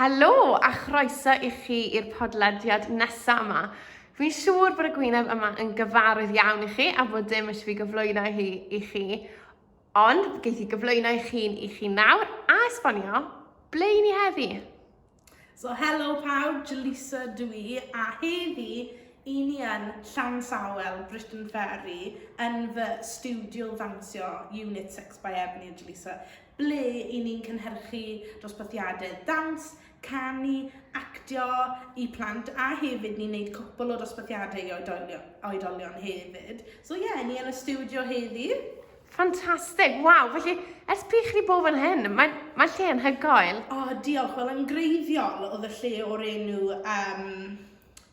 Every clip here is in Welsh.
Helo a chroeso i chi i'r podlediad nesaf yma. Fi'n siŵr bod y gwyneb yma yn gyfarwydd iawn i chi a bod dim eisiau fi gyflwyno hi i chi. Ond geith i gyflwyno i chi'n i chi nawr a esbonio ble i ni heddi. So helo pawb, Jaleesa dw i a heddi i ni yn Llansawel, Britain Ferry, yn fy studio ddansio Unit 6 by Ebony a Jaleesa. ble i ni'n cynhyrchu dosbarthiadau dawns, canu, actio i plant a hefyd ni'n neud cwpl o dosbarthiadau i oedolion, oedolion hefyd. So ie, yeah, ni yn y studio heddi. Ffantastig, waw, felly ers pryd chi wedi bod fan hyn? Mae, mae lle yn hygoel. O, oh, diolch, wel yn greiddiol oedd y lle o'r enw um,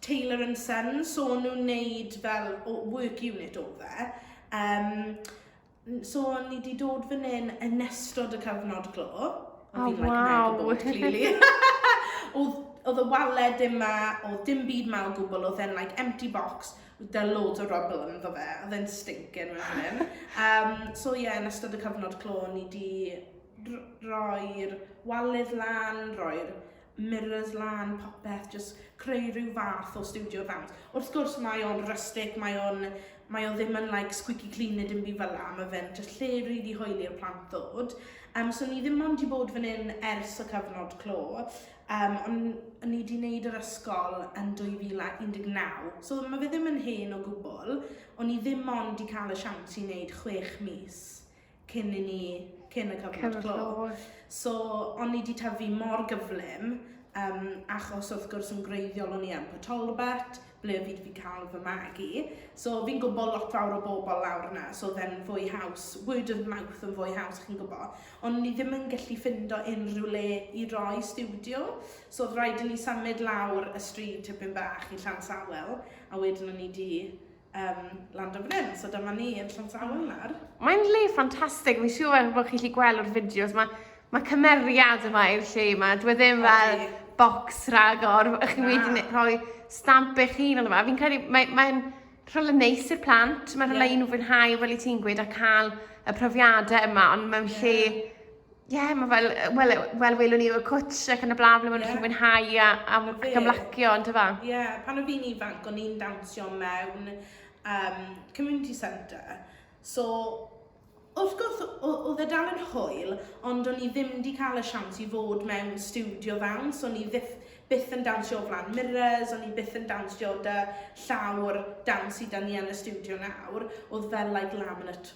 Taylor and Son, so nhw'n neud fel work unit o fe. Um, so o'n ni wedi dod fan hyn yn ystod y cyfnod glo. O'n oh, i'n wow. like mega clearly. oedd, oedd y waled dim ma, oedd dim byd ma o gwbl, oedd e'n like empty box, oedd da loads o rubble yn ddo fe, oedd e'n stinkin fan hyn. Um, so ie, yeah, yn ystod y cyfnod clo, o'n i wedi roi'r waled lan, roi'r mirrors lan, popeth, jyst creu rhyw fath o studio ddawns. Wrth gwrs mae o'n rustic, mae o'n mae o ddim yn like squeaky clean neu dim byd fel la, mae fe'n jyst lle rili hoeli i'r plant ddod. Um, so ni ddim ond i bod fan hyn ers y cyfnod clo, um, ond ni wedi wneud yr ysgol yn 2019, so mae fe ddim yn hen o gwbl, ond ni ddim ond i cael y siawns i wneud chwech mis cyn i ni, cyn y cyfnod clo. Cyn y clo. So, o'n i di tyfu mor gyflym, um, achos wrth gwrs yn greiddiol o'n i yn Port Talbot, ble fi wedi cael fy magu. So fi'n gwybod lot fawr o bobl lawr yna, so then fwy haws, word of mouth yn fwy haws, chi'n gwybod. Ond ni ddim yn gallu ffindo unrhyw le i roi studio, so oedd rhaid i ni symud lawr y stryd tipyn bach i Llan Sawel, a wedyn o'n i di um, land o fan hyn. So dyma ni yn Llansamwel nawr. Mae'n le ffantastig, fi'n siŵr fel bod chi'n gallu gweld o'r fideos, mae ma cymeriad yma i'r lle yma, dwi e ddim fel okay. box rhagor, ych chi wedi rhoi stamp eich hun ond yma. Fi'n credu, mae'n mae, mae rhywle neis i'r plant, mae'n rhywle yeah. i nhw fwynhau fel i ti'n gweud a cael y profiadau yma, ond mewn lle Ie, yeah, mae fel, wel, wel welwn ni o'r cwtsh ac yn y blaen, ble maen nhw'n yeah. mwynhau a, a, ac ymlacio, ond yfa? Ie, yeah, pan o fi'n ifanc, o'n i'n dawnsio mewn um, community centre. So, wrth gwrs, oedd e dal yn hwyl, ond o'n i ddim wedi cael y siawns i fod mewn studio fewn, so o'n i ddim byth yn dawnsio o flan mirrors, o'n i byth yn dawnsio da llawr dawns i da ni yn y studio nawr, oedd fel like laminate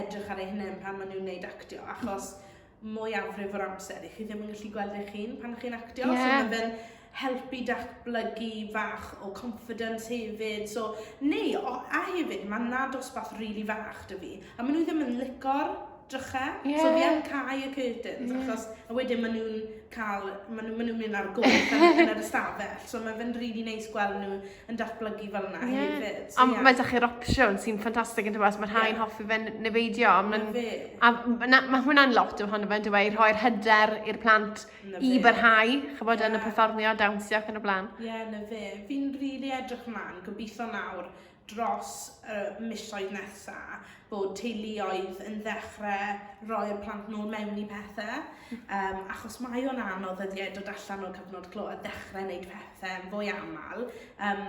edrych ar eu hunain pan maen nhw'n gwneud actio, achos mwyafrif o'r amser i chi ddim yn gallu gweld eich hun pan chi'n actio. Yeah. So mae fe'n helpu datblygu fach o confidence hefyd. So, neu, o, a hefyd, mae na dosbarth rili really fach dy fi, a maen nhw ddim yn licor drychau. Yeah. So fi yn cael y curtains, yeah. achos a wedyn maen nhw'n cael, maen nhw'n mynd ar gof yn, yn yr ystafell. So mae fe'n rili really neis gweld nhw yn datblygu fel yna yeah. hefyd. So, yeah. mae dach chi'r opsiwn sy'n ffantastig yn dweud, mae rhai'n yeah. hoffi fe nefeidio. Mae'n fe. A na, mae hwnna'n lot ohono fe, dwi wedi rhoi'r hyder i'r plant na i byrhau, chybod yeah. yn y perfformio, dawnsio ac yn y blaen. Ie, yeah, na fe. Fi'n rili really edrych ymlaen, gobeithio nawr dros y uh, misoedd nesaf, bod teuluoedd yn ddechrau rhoi'r plant nôl mewn i pethau, um, achos mae o'n anodd ydy e dod allan o'r cyfnod clo a ddechrau wneud pethau yn fwy aml. Um,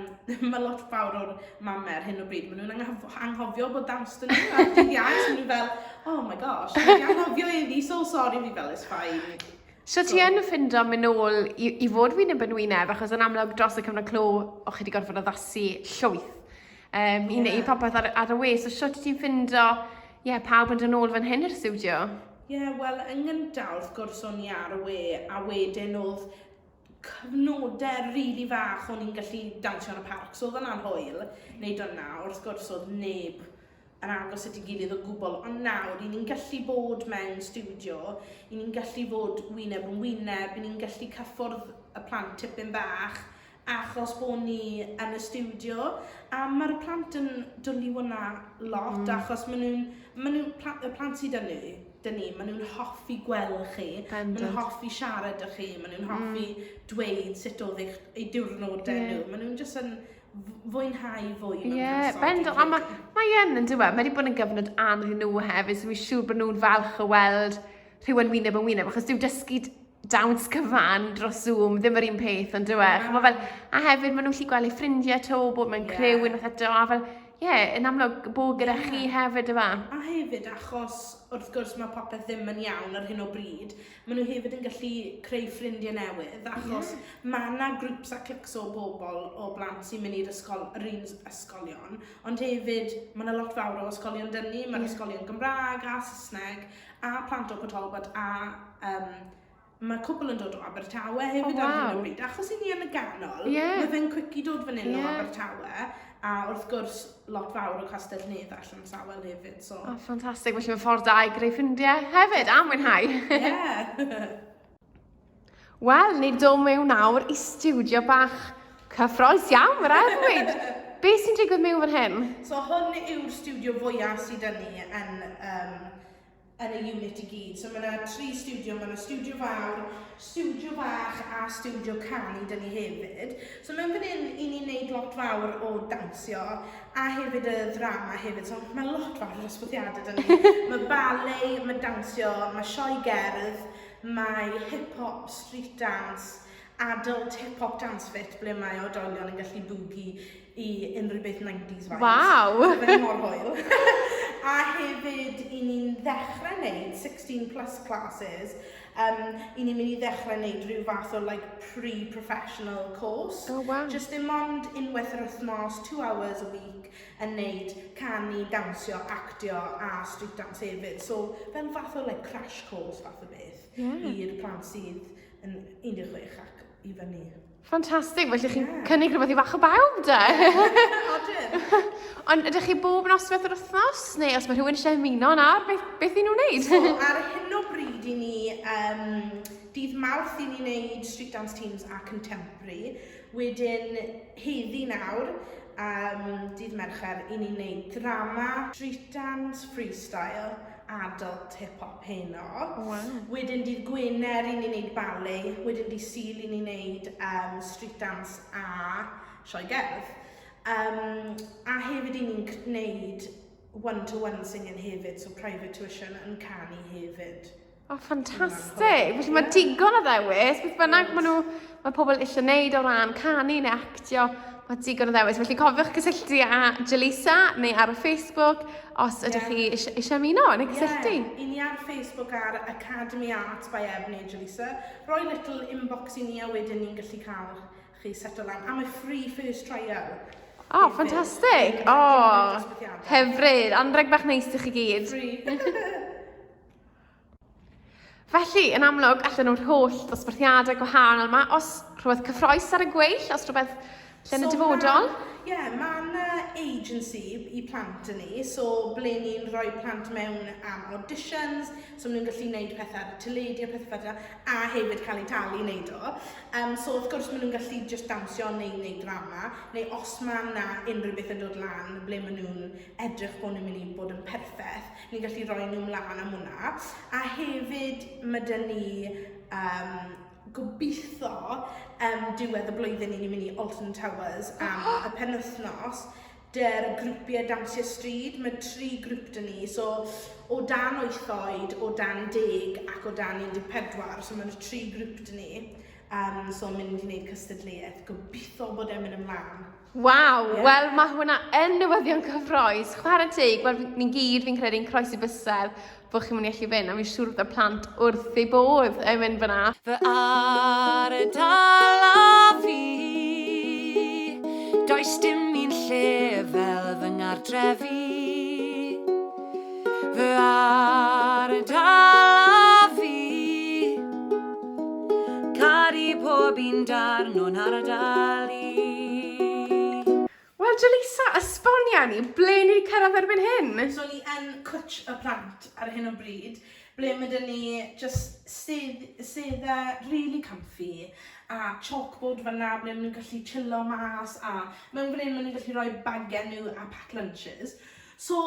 mae lot fawr o'r mamau ar hyn o bryd, maen nhw'n anghofio bod dawns dyn nhw ar dydd iau, so maen nhw fel, oh my gosh, dwi'n anghofio i fi, so sorry fi fel, it's fine. So, so. ti yn ffindo mynd nôl i, i fod fi'n y bynwyneb, achos yn amlwg dros y cyfnod clo, o'ch chi wedi gorfod addasu llwyth Um, I wneud popeth ar, ar y we, so sut ti'n ffindo ie, yeah, pawb yn dod ôl fan hyn i'r studio? Ie, yeah, wel, yn gyntaf, wrth gwrs, o'n i ar y we, a wedyn oedd cyfnodau rili really fach o'n i'n gallu dawnsio yn y parc, so oedd yna'n hwyl, wneud hwnna, wrth gwrs oedd neb yn agos at ei gilydd o gwbl, ond nawr, i ni'n gallu bod mewn studio, i ni'n gallu bod wyneb yn wyneb, i ni'n gallu cyffwrdd y plant tipyn bach, achos bo ni yn y stiwdio a ma'r plant yn dwli hwnna lot mm. achos maen nhw'n, maen nhw, pla, y plant sydd yn ni, dyn ni, maen nhw'n hoffi gweld chi, maen nhw'n hoffi siarad â chi, maen nhw'n mm. hoffi mm. dweud sut oedd eich, ei diwrnod dyn yeah. nhw, maen nhw'n jyst yn fwynhau fwy mewn yeah, person. Bendo, a mae ma yn yn diwedd, mae wedi bod yn gyfnod anodd nhw hefyd, so mi'n siŵr bod nhw'n falch o weld rhywun wyneb yn wyneb, achos dyw dysgu dawns cyfan dros Zoom, ddim yr un peth, ond dwi yeah. Chymod fel, a hefyd, maen nhw'n lli gweld ei ffrindiau to, bod mae'n yeah. creu unwaith eto, a fel, ie, yeah, yn amlwg bod gyda yeah. chi hefyd yma. A hefyd, achos wrth gwrs mae popeth ddim yn iawn ar hyn o bryd, maen nhw hefyd yn gallu creu ffrindiau newydd, achos yeah. mae yna grwps a clics o bobl o blant sy'n mynd i'r ysgol, yr un ysgolion, ond hefyd mae yna lot fawr o ysgolion dynnu, mae'r yeah. ysgolion Gymraeg a Saesneg, a plant o Pwtalgwad a um, mae cwbl yn dod o Abertawe hefyd oh, wow. ar hyn o bryd. Achos i ni yn y ganol, yeah. mae fe'n cwici dod fan hyn yeah. o Abertawe a wrth gwrs lot fawr o Castell Nedd allan sawel hefyd. So. Oh, ffantastig, felly mae'n ffordd da i greu ffrindiau hefyd a mwynhau. Ie. yeah. Wel, ni'n dod mewn nawr i studio bach cyffroes iawn, mae'n rhaid ddweud. Be sy'n digwydd mewn fan hyn? So hwn yw'r studio fwyaf sydd dyn ni yn, um, yn y unit i gyd. So mae yna tri studio, mae yna studio fawr, studio bach a studio canu dyn ni hefyd. So mewn fan hyn, i ni'n neud lot fawr o dansio a hefyd y ddrama hefyd. So mae lot fawr o ysgwthiadau dyn ni. mae ballet, mae dansio, mae sioe gerdd, Mae hip hop, street dance, adult hip hop dance fit ble mae oedolion yn gallu bwgi i unrhyw beth 90s vibes. Waw! Mae'n mor hwyl. a hefyd, i ni'n ddechrau wneud 16 plus classes, um, i ni'n mynd i ddechrau wneud rhyw fath o like, pre-professional course. Oh, wow. Just dim ond unwaith yr wythnos, two hours a week, yn neud, canu, dawnsio, actio a street dance hefyd. So fe'n fath o like crash course fath o beth yeah. i'r plant sydd yn 16 ac i fyny. Ffantastig, felly chi'n yeah. cynnig rhywbeth i fach o bawb, de? Yeah, Ond ydych chi bob nos beth yr wythnos, neu os mae rhywun eisiau ymuno yna, beth, beth i nhw'n wneud? So, ar hyn o bryd i ni, um, dydd mawrth i ni wneud street dance teams a contemporary, Wedyn heddi nawr, am dydd Mercher, i ni'n neud drama, street dance, freestyle, adult, hip hop heno. Waw. Wedyn dydd Gwener i ni'n neud ballet, wedyn dydd Sul i ni'n neud um, street dance a sioe gerdd. Um, a hefyd i ni'n neud one-to-one singing hefyd, so private tuition yn canu hefyd. O, oh, ffantastig! Felly mae digon o ddewis, beth bynnag maen nhw, mae pobl eisiau gwneud o ran canu neu actio, mae digon o ddewis. Felly cofiwch gysylltu â Jalisa neu ar y Facebook os ydych chi eisiau, eisiau ymuno yn ei gysylltu. Ie, yeah, i ni ar Facebook ar Academy Art by Ev neu Jalisa. Roi little inbox i ni a wedyn ni'n gallu cael chi settle lan. Am y free first trial. O, oh, ffantastig! O, oh, hyfryd. Anreg bach neis i chi gyd. Free. Felly, yn amlwg, allan nhw'r holl ddosbarthiadau gwahanol yma, os rhywbeth cyffroes ar y gweill, os rhywbeth lle yn y dyfodol? Ie, yeah, mae yna agency i plant yn ni, so ble ni'n rhoi plant mewn am auditions, so maen nhw'n gallu gwneud pethau ar y teledu a pethau fel a hefyd cael eu talu i wneud o. Um, so wrth gwrs maen nhw'n gallu just dawnsio neu wneud drama, neu os mae yna unrhyw beth yn dod lan ble maen nhw'n edrych bod nhw'n mynd i bod yn perffaith, ni'n gallu roi nhw mlaen am hwnna. A hefyd, mae dyn ni um, gobeithio um, diwedd y blwyddyn i ni'n mynd i Alton Towers am oh. y penwythnos dy'r grwpiau Dawnsio Stryd. Mae tri grwp dyn ni, so o dan wyth oed, o dan deg ac o dan 14, so mae'n tri grwp dyn ni. Um, so mynd i wneud cystadleuaeth, gobeithio bod e'n mynd ymlaen. Waw, yeah. wel mae hwnna yn newyddion cyffroes. Chwarae teg, wel ni'n gyd fi'n credu'n croesi bysel bod chi'n mynd i allu fynd, a fi'n siŵr bod y plant wrth ei bodd yn mynd fyna. Fy ar y dal a fi, does dim un lle fel fy ngardrefi. Fy ardal a fi Caru pob un darn o'n ardal i Wel Jaleesa, esbonia ni, ble ni wedi cyrraedd erbyn hyn? So ni yn Cwtsh y Plant ar hyn o bryd, ble ma' 'da ni jyst stedd- sedda rili comfy a chalkboard fan'na ble ma' nhw'n gallu chillo mas a mewn fan hyn ma' nhw'n gallu rhoi bagiau nhw a pack lunches. So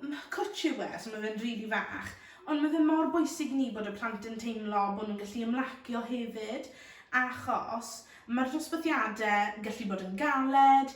ma' cwtsh yw e so ma' fe'n rili fach ond ma' fe mor bwysig i ni bod y plant yn teimlo bo' nw'n gallu ymlacio hefyd achos ma'r dosbarthiade gallu bod yn galed,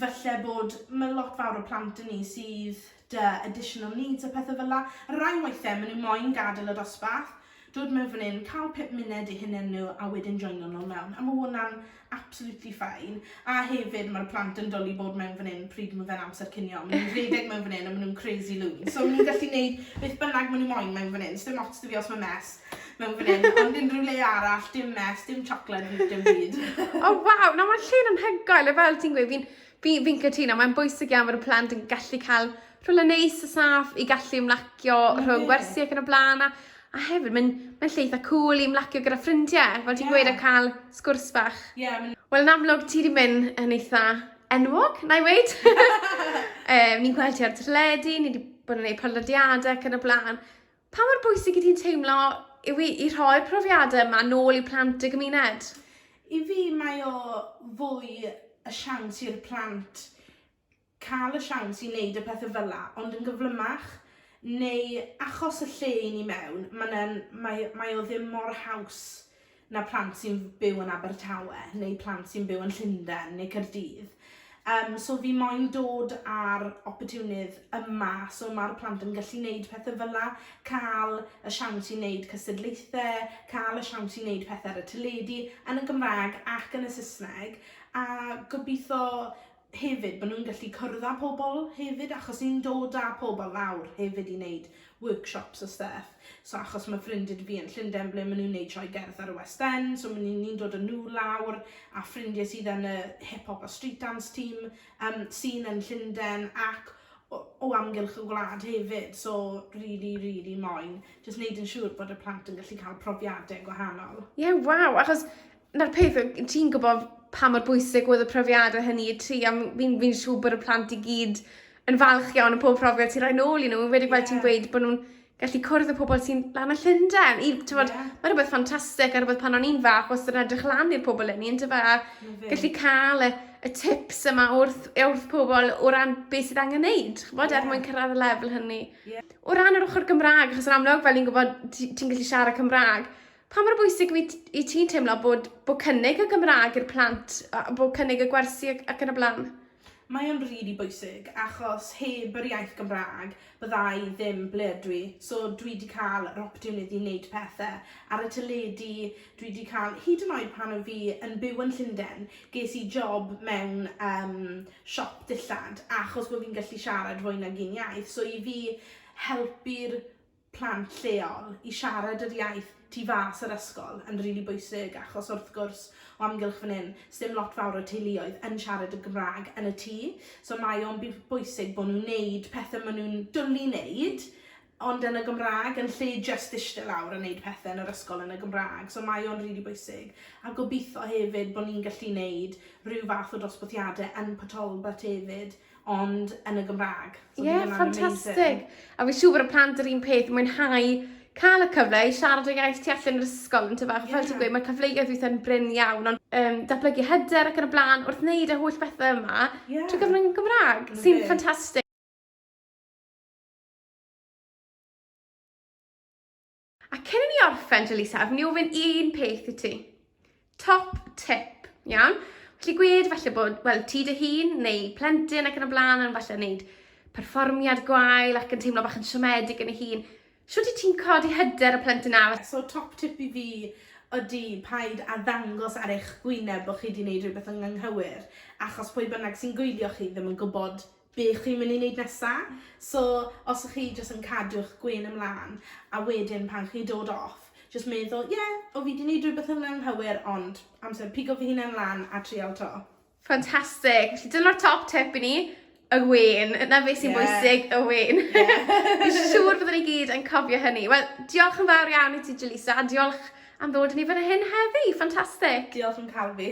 falle bod ma' lot fawr o plant 'da ni sydd 'da additional needs a pethe fel 'a. Rai weithe ma' nw moyn gadel y dosbarth dod mewn fan 'yn, ca'l pum munud i hunen nhw a wedyn joino nôl mewn, a ma' hwnna'n absolutely fine. A hefyd ma'r plant yn dwli bod mewn fan 'yn pryd ma' fe'n amser cinio, ma' nhw'n rhedeg mewn fan 'yn a ma' nhw'n crazy loon, so ma' nhw'n gallu neud beth bynnag ma' nhw moyn mewn fan 'yn, sdim ots 'da fi os ma' mess mewn fan 'yn, ond unrhyw le arall, dim mess, dim chocolate, dim byd. O waw, na ma'r lle'n anhygoel a fel ti'n gweud fi'n Fi, fi'n cytuno, mae'n bwysig iawn fod y plant yn gallu cael rhywle neis a saff i gallu ymlacio rhwng gwersi ac yn y blaen, a, a hefyd mae'n mae lle eitha cool i ymlacio gyda ffrindiau, fel ti'n yeah. gweud, a cael sgwrs bach. Yeah, Wel, yn amlwg, ti wedi mynd yn eitha enwog, na i weid. um, ni'n gweld ti ar teledu, ni wedi bod yn gwneud podlediadau ac yn y blaen. Pa mor bwysig i ti'n teimlo yw i, i rhoi'r profiadau yma nôl i plant y gymuned? I fi mae o fwy y siawns i'r plant cael y siawns i wneud y pethau fel la, ond yn gyflymach, neu achos y lle i ni mewn, mae'n, mae, mae o ddim mor haws na plant sy'n byw yn Abertawe neu plant sy'n byw yn Llundain neu Caerdydd. Um, so fi moyn dod ar opportunydd yma, so mae'r plant yn gallu neud pethau fel la, cael y siawns i neud cystadlaethau, cael y siawns i neud pethau ar y teledu, yn y Gymraeg ac yn y Saesneg, a gobeithio hefyd bod nhw'n gallu cwrdd â pobl hefyd achos ni'n dod â pobl lawr hefyd i wneud workshops a stuff. So achos mae ffrindiau dy fi yn Llundain ble maen nhw'n wneud sioe gerdd ar y West End, so ni'n ni dod â nhw lawr a ffrindiau sydd yn y hip-hop a street dance team um, sy'n yn Llundain ac o, o amgylch y gwlad hefyd. So really, really moyn, jyst wneud yn siŵr bod y plant yn gallu cael profiadau gwahanol. Ie, yeah, waw, achos 'na'r peth yw ti'n gwbo pa mor bwysig oedd y profiade hynny i ti a m- fi'n fi'n siŵr bod y plant i gyd yn falch iawn o pob profiad ti roi nôl i n'w enwedig fel ti'n gweud bo' nw'n gallu cwrdd â pobol sy'n lan y Llunden i t'mod... Ie. ...ma' rwbeth ffantastic a rwbeth pan o'n i'n fach wastad yn edrych lan i'r pobol 'yn ni yndyfe a... 'na fe. ...gallu ca'l y y tips yma wrth yy wrth pobol o ran beth sydd angen neud ch'mod... Ie. ...er mwyn cyrradd y lefel hynny. Ie. O ran yr ochor Gymra'g achos yn amlwg fel ni'n gwbod ti ti'n gallu siarad Cymra'g Pa mor bwysig wyt i ti'n teimlo bod, bod cynnig y Gymraeg i'r plant, bod cynnig y gwersi ac, ac yn y blaen? Mae o'n rili really bwysig achos heb yr iaith Gymraeg bydda i ddim ble ydw i. So dwi wedi cael yr opportunity i wneud pethau ar y teledu, dwi wedi cael, hyd yn oed pan oedd fi yn byw yn Llundain, ges i job mewn um, siop dillad achos bod fi'n gallu siarad fwy nag un iaith. So i fi helpu'r plant lleol i siarad yr iaith tu fas yr ysgol yn rili bwysig achos wrth gwrs o amgylch fan hyn sdim lot fawr o teuluoedd yn siarad y Gymraeg yn y tŷ so mae o'n bwysig bod nhw'n neud pethau maen nhw'n dwlu neud ond yn y Gymraeg yn lle jyst eistedd lawr a neud pethau yn yr ysgol yn y Gymraeg so mae o'n rili bwysig a gobeithio hefyd bod ni'n gallu neud rhyw fath o dosbarthiadau yn Port Talbot hefyd ond yn y Gymraeg. Ie, so yeah, ffantastig. A fi'n siŵr bod y plant yr un peth, mwynhau cael y cyfle i siarad o iaith tu allan yr ysgol yn tyfach. Yeah. Fel ti'n gweud, mae'r cyfleoedd weithiau'n bryn iawn, ond um, datblygu hyder ac yn y blaen, wrth wneud y holl bethau yma, yeah. trwy gyfrwng y Gymraeg, sy'n ffantastig. A cyn i ni orffen, Jaleesa, a fi'n mynd i ofyn un peth i ti. Top tip, iawn? Felly gwed falle bod, wel, ti dy hun neu plentyn ac yn y blaen yn falle wneud perfformiad gwael ac yn teimlo bach yn siomedig yn ei hun. Siwt i ti'n codi hyder y plentyn awr? So top tip i fi ydy paid a ddangos ar eich gwyneb bod chi wedi gwneud rhywbeth yn anghywir, achos pwy bynnag sy'n gwylio chi ddim yn gwybod be chi'n mynd i wneud nesa. So os y'ch chi jyst yn cadw'ch gwên ymlan a wedyn pan chi'n dod off jyst meddwl ie o fi 'di 'neud rhywbeth yn anghywir ond amser pigo fy hunan lan a trial 'to. Ffantastig, felly dyna'r top tip i ni, y wên, na beth sy'n bwysig, y wên. Fi'n siŵr byddwn ni gyd yn cofio hynny. Wel, diolch yn fawr iawn i ti Jaleesa, a diolch am ddod i ni fan hyn heddi, ffantastig! Diolch am cael fi.